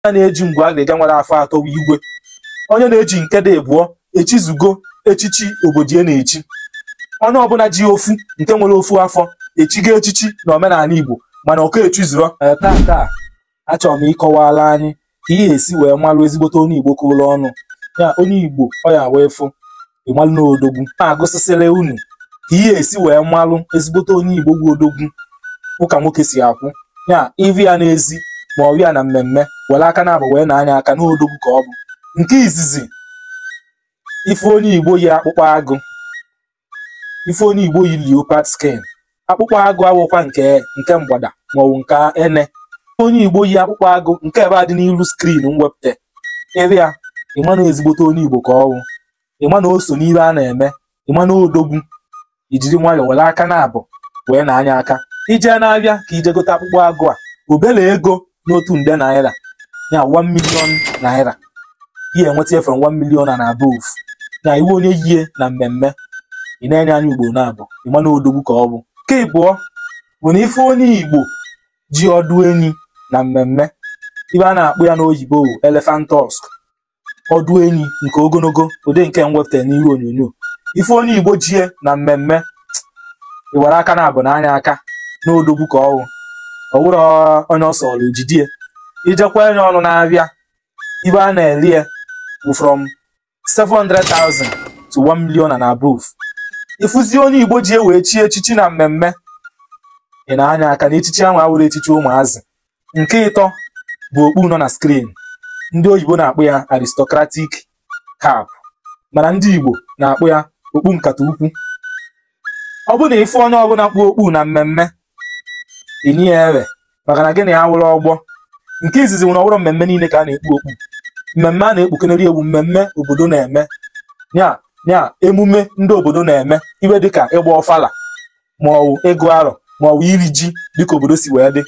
onye na-eji ngwu agịrịga nwere afọ atọ bụ igwe onye na-eji nke dị abụọ echizugo echichi obodo ya na-echi onye ọbụla ji ofu nke nwere ofu afọ echigo echichi na omenala Igbo mana ọ ka echizurọ Ee, taa taa achọrọ m ịkọwara anyị ka ihe esi wee malụ ezigbote onye Igbo kụrụ ọnụ ya onye Igbo ọ ya wee fụ ịmalụ na odogwu na-agụsịsịrị unu ka ihe esi wee malụ ezigbote onye igbo bụ odogwu ụka nwoke si akwụ ya ịfụ ya n'ezi ma ọ ya na mmemme were aka naabọ wee naa ya aka na odogwu ka ọ bụ nke izizi ịfụ onye igbo yi akpụkpọ agụ ịfụ onye igbo yi leopard skin akpụkpọ agụ awụkwa nke nke mgbada maọbụ nke ene onye igbo yi akpụkpọ agụ nke ebe a dị n'iru skrin m wepụta ebe a ịma na ezigbote onye igbo ka ọ wụ ịma na o so n'ihe a na-eme ịma na odogwu ijiri nwayọọ were aka naabọ wee naa ya aka ije n'afịa ka ije gote akpụkpọ agụ a obere ego n'otu nde naira ya 1 million naira ihe enweta from 1 million and above na ịfụ onye yie na mmemme ị nee ya anya ugboro naabọ ịma na odogwu ka ọ bụ nke ịbụọ bụ na ịfụ onye igbo ji ọdụ enyi na mmemme ife a na-akpọ ya n'oyibo elephant tusk ọdụ enyi nke ogologo ụdị nke m wepụtara n'ihu onyonyo ịfụ onye igbo jie na mmemme iwere aka naabọ naa ya aka na odogwu ka ọwụ ọ wụrọ onye ọ sọrọ ejidie ijekwa enye ọnụ n'afịa ife a na-ele ya bụ from 700,000 to 1 million and above ịfụzi onye igbo jie wee chie echichi na mmemme ị naa ya aka na echichi ahụ awụrọ echichi ụmụazị nke ịtọ bụ okpu nọ na skrin ndị oyibo na-akpọ ya aristocratic cap mana ndị Igbo na-akpọ ya okpu nkata ukwu ọ bụ na ịfụ onye ọbụla kpu okpu na mmemme inye ya efe maka na gịnị awụrọ ọgbọ nke izizi nwere ọ wụrọ mmemme niile ka a na-ekpu okpu mmemme a na-ekpukenere e wụ mmemme obodo na-eme ya ya emume ndị obodo na-eme ife dịka ịgba ọfala ma ọ bụ ịgụ arọ ma ọ bụ iri ji dịka obodo si wee dị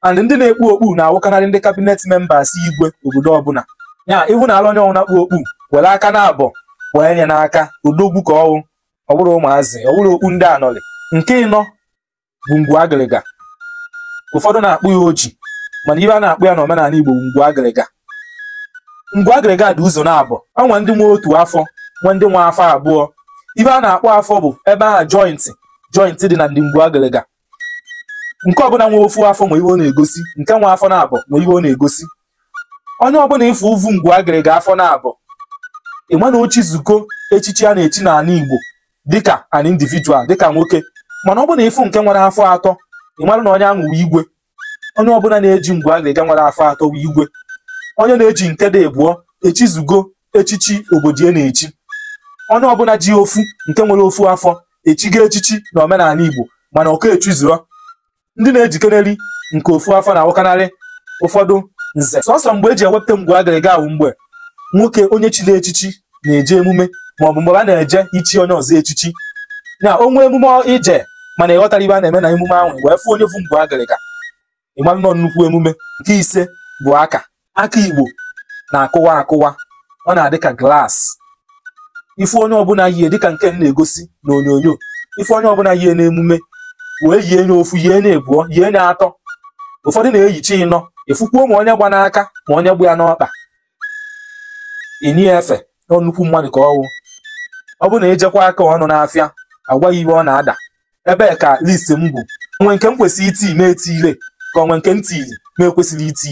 and ndị na-ekpu okpu na-awụkarị ndị cabinet members igwe obodo ọbụla ya ịhụ na ala onye ọwụna kpu okpu were aka naabọ wee nye n'aka odogwu ka ọwụ ọ bụrọ ụmụazị ọ bụrọ okpu ndị anọlị nke ịnọ bụ ngwu agịrịga ụfọdụ na-akpọ ya oji mana ife a na-akpọ ya n'omenala Igbo bụ ngwu agịrịga ngwu agịrịga dị ụzọ naabọ o nwe ndị nwe otu afọ nwe ndị nwe afọ abụọ ife a na-akpọ afọ bụ ebe ahụ joint joint dị na ndị ngwu agịrịga nke ọbụla nwe ofu afọ nwe ihe ọ na-egosi nke nwe afọ naabọ nwe ihe ọ na-egosi onye ọbụla ịfụ vu ngwu agịrịga afọ naabọ ịma na o chizugo echichi a na-echi n'ala Igbo dịka an individual dịka nwoke mana ọ bụ na ịfụ nke nwere afọ atọ ị mara na onye ahụ wụ igwe onye ọbụla na-eji ngwu agịrịga nwere afọ atọ wụ igwe onye na-eji nke dị abụọ echizugo echichi obodo ya na-echi onye ọbụla ji ofu nke nwere ofu afọ echigo echichi na omenala Igbo mana ọ ka echizurọ ndị na-ejikeneri nke ofu afọ na-awụkanarị ụfọdụ nze sọsọ mgbe e ji ewepụta ngwu agịrịga wụ mgbe nwoke onye chiri echichi na-eje emume maọbụ mgbe a na-eje ichi onye ọzọ echichi na o nwee emume i jee mana ị ghọtarọ ife a na-eme na emume ahụ wee fụ onye vu ngwu agịrịga ị malụ na ọ nnukwu emume nke ise bụ aka aka Igbo na-akụwa akụwa ọ na-adị ka glass ife onye ọbụla yie dịka nke m na-egosi na onyonyo ife onye ọbụla yie n'emume wee yie nye ofu yie nye ebụọ yie nye atọ ụfọdụ na-eyichi ịnọ ị fụkwuo ma onye gba n'aka ma onye gba ya n'ọkpa i nye ya efe na nnukwu mmadụ ka ọ wụ ọ bụrụ na ejekwa aka ọnụ n'afịa a gwa ị ife ọ na-ada ebe a ka list m gwụ o nwee nke m kwesịrị iti na-etiirọ ka o nwee nke m tiri na-ekwesịrọ iti